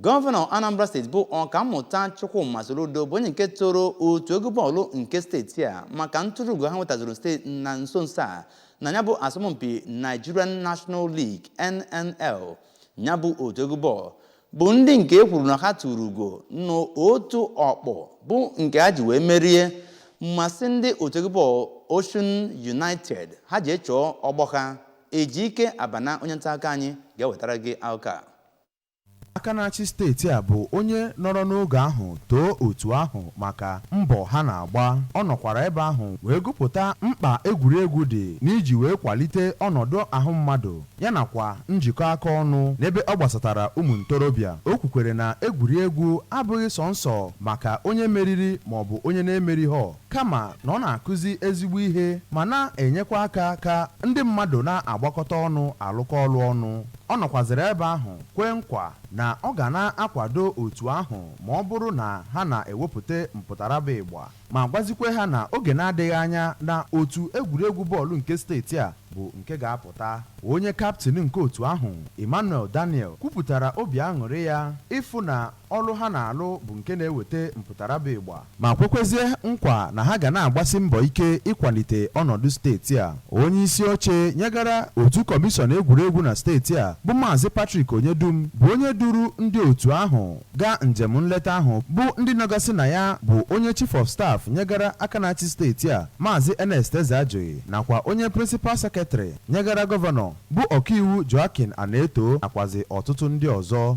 Gọvanọ Anambra steeti bụ Ọkammụta Chukwuma Soludo bụ onye nke toro otu egwu bọọlụ nke steeti a maka ntụrụugo ha nwetazuru steeti na nso nso a na ya bụ asọmpi Nigerian National League NNL ya bụ otu egwu bọọlụ bụ ndị nke e kwuru na ha tụrụ ugo n'otu ọkpụ bụ nke ha ji wee merie masị ndị otu egwu bọọlụ Osun United ha ji echọọ ọgbọ ha Ejike Abana onye nta akụkọ anyị ga-ewetara gị akụkọ a Aka na-achị steeti a bụ onye nọrọ n'oge ahụ too otu ahụ maka mbọ ha na-agba. Ọ nọkwara ebe ahụ wee gụpụta mkpa egwuregwu dị n'iji wee kwalite ọnọdụ ahụ mmadụ ya nakwa njikọ aka ọnụ n'ebe ọ gbasatara ụmụ ntorobịa. O kwukwere na egwuregwu abụghị sọnsọ maka onye meriri maọbụ onye na-emerighọ kama na ọ na-akụzi ezigbo ihe ma na-enyekwa aka ka ndị mmadụ na-agbakọta ọnụ alụkọ ọlụ ọnụ. Ọ nọkwazịrị ebe ahụ kwee nkwa na ọ ga na-akwado otu ahụ ma ọ bụrụ na ha na-ewepụta mpụtara bụ ịgba, ma gwazikwe ha na oge na-adịghị anya na otu egwuregwu bọọlụ nke steeti a bụ nke ga-apụta. Onye kaptịn nke otu ahụ, Emmanuel Daniel, kwupụtara obi aṅụrị ya ịfụ na ọlụ ha na-alụ bụ nke na-eweta mpụtara bụ ịgba, ma kwekwezie nkwa na ha ga na-agbasi mbọ ike ịkwalite ọnọdụ steeti a. Onyeisi oche nyegara otu Kọmishọn egwuregwu na steeti a bụ Maazị Patrick Onyedum bụ onye duru ndị otu ahụ gaa njem nleta ahụ bụ ndị nọgasị na ya bụ onye Chief of Staff nyegara aka na-achị steeti a Maazị Ernest Ezeajughi nakwa onye Principal Secretary nyegara Gọvanọ bụ Ọkaiwu Joachim Anetoh nakwazi ọtụtụ ndị ọzọ.